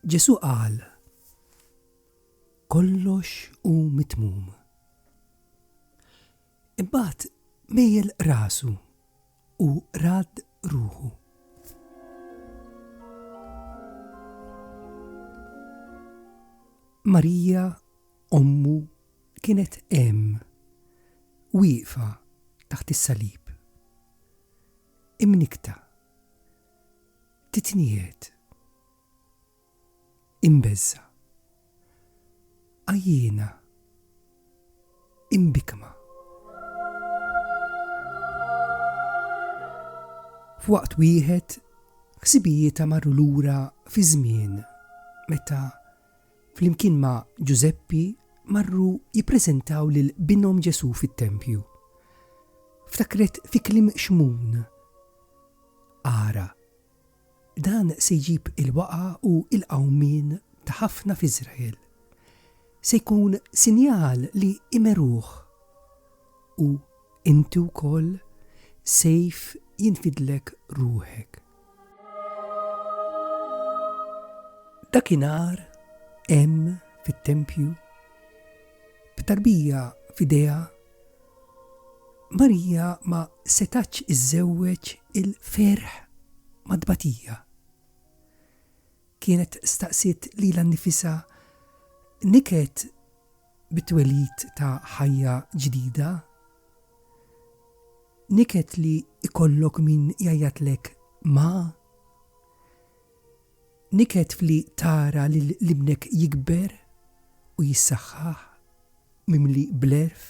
Ġesù qal, Kollox hu mitmum. Imbagħad mejjel rasu u rad ruħu. Marija Ommu kienet hemm, wieqfa taħt is-salib, imnikkta, titniet, imbeżża', għajjiena, imbikma. F'waqt wieħed, ħsibijietha marru lura fi żmien meta flimkien ma' Ġużeppi marru jippreżentaw lil binhom Ġesù fit-tempju. Ftakret fi kliem Xmun, Ara, dan se jġib il-waqgħa u l-qawmien ta' ħafna f'Iżrael. Se jkun sinjal li jmeruh. U inti wkoll sejf jinfidlek ruħek. Dakinhar hemm fit-tempju b'tarbija f'idejha Marija ma setatx iżżewweġ il-ferħ mat-tbatija. Kienet staqsiet lilha nnifisha niket bit-twelid ta' ħajja ġdida Niket li jkollok min jgħajjatlek ma? Niket f'li tara lil ibnek jikber u jissaħħaħ mimli bl-għerf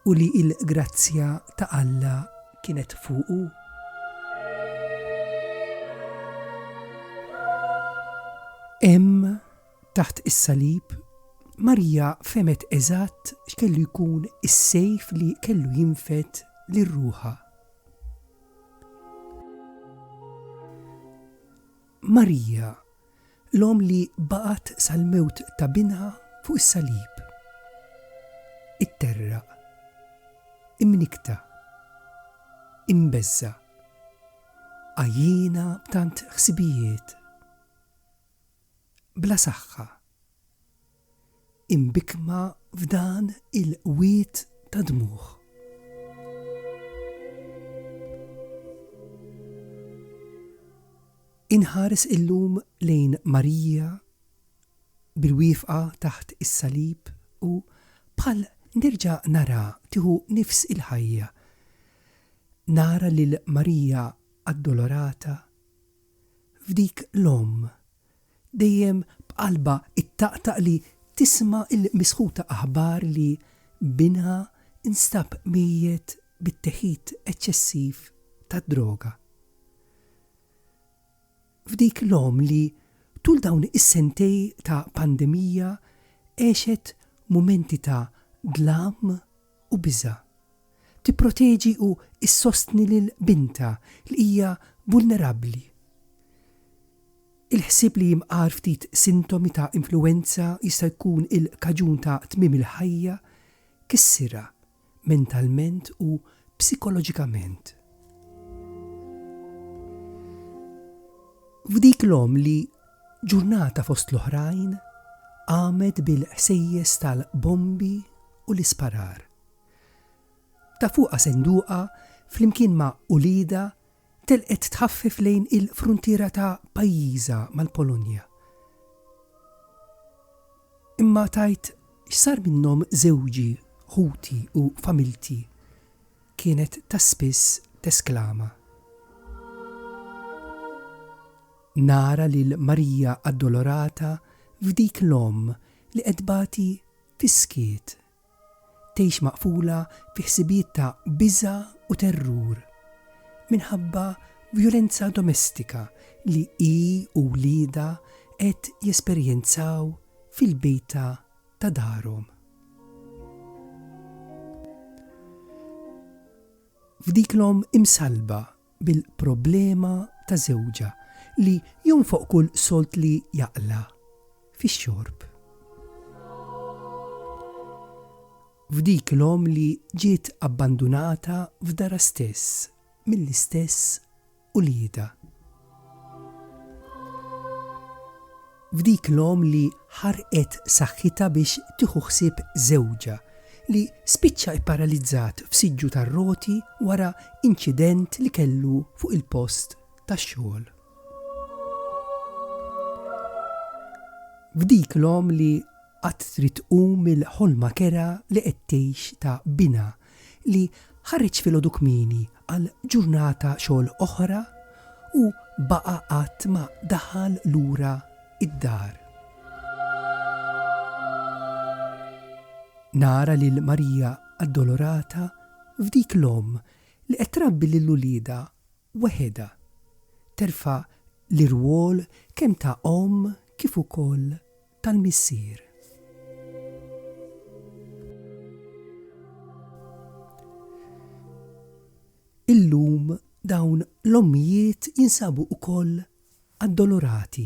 u li l-grazzja ta' Alla kienet fuqu? Hemm Taħt is-salib, Marija fehmet eżatt x'kellu jkun is-sejf li kellu jinfed lil ruħha. Marija, l-omm li baqgħet sal-mewt ta' binha fuq is-salib. Itterraq, imnikta, imbeżża, għajjiena b'tant ħsibijiet. bla saħħa, imbikkma f'dan il-qwiet ta' dmugħ. Inħares illum lejn Marija bil-wieqfa taħt is-salib u bħal nerġa' nara tieħu nifs il-ħajja. Nara lil Marija addolorata, f'dik l-omm, dejjem b'qalbha ttaqtaq li tisma' l-misħuta aħbar li binha nstab mejjet bit-teħid eċċessiv tad-droga. F'dik l-omm li tul dawn is-sentej ta' pandemija għexet mumenti ta' dlam, u biża'. Tipproteġi u ssostni lil bintha li hija vulnerabbli. Il-ħsieb li jimqar ftit sintomi ta' influwenza jista' jkun il-kaġun ta' tmiem il-ħajja kissirha mentalment u psikoloġikament. F'dik l-omm li Ġurnata fost l-oħrajn qamet bil-ħsejjes tal-bombi u l-isparar. Ta' fuqha senduqa flimkien ma' uliedha telqet tħaffef lejn il-fruntiera ta' pajjiżha mal-Polonja. Imma tgħid x'sar minnhom żewġi, ħuti u familti, kienet ta' spiss tesklama. Nara lil Marija Addolorata f'dik l-omm li qed tbati fis-skiet. Tgħix maqfula fi ħsibijiet ta' biża' u terrur minħabba vjolenza domestika li hi u wliedha qed jesperjenzaw fil-bejta ta' darhom. F'dik l-omm imsallba bil-problema ta' żewġha li jonfoq kull sold li jaqla' fix-xorb. F'dik l-omm li ġiet abbandunata f'darha stess mill-istess uliedha. F'dik l-omm li ħarqet saħħitha biex tieħu ħsieb żewġha, li spiċċa pparalizzat f'siġġu tar-roti wara inċident li kellu fuq il-post tax-xogħol. F'dik l-omm li qatt trid tqum mill-ħolma kerha li qed tgħix ta' binha li ħareġ filgħodu kmieni għal ġurnata xogħol oħra u baqa' qatt ma daħal lura id-dar. Nara lil Marija Addolorata f'dik l-omm li qed trabbi lil uliedha weħidha, terfa' l-irwol kemm ta' omm kif ukoll tal-Missier. Illum dawn l-ommijiet jinsabu wkoll addolorati,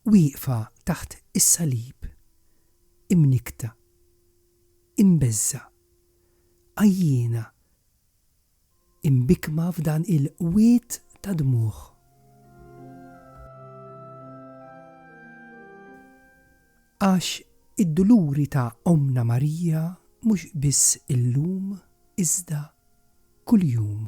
wieqfa taħt is-salib, imnikkta, imbeżża, għajjiena, Imbikkma f'dan il-qwiet ta' dmugħ. Għax id-duluri ta' Ommna Marija mhux biss illum iżda kuljum.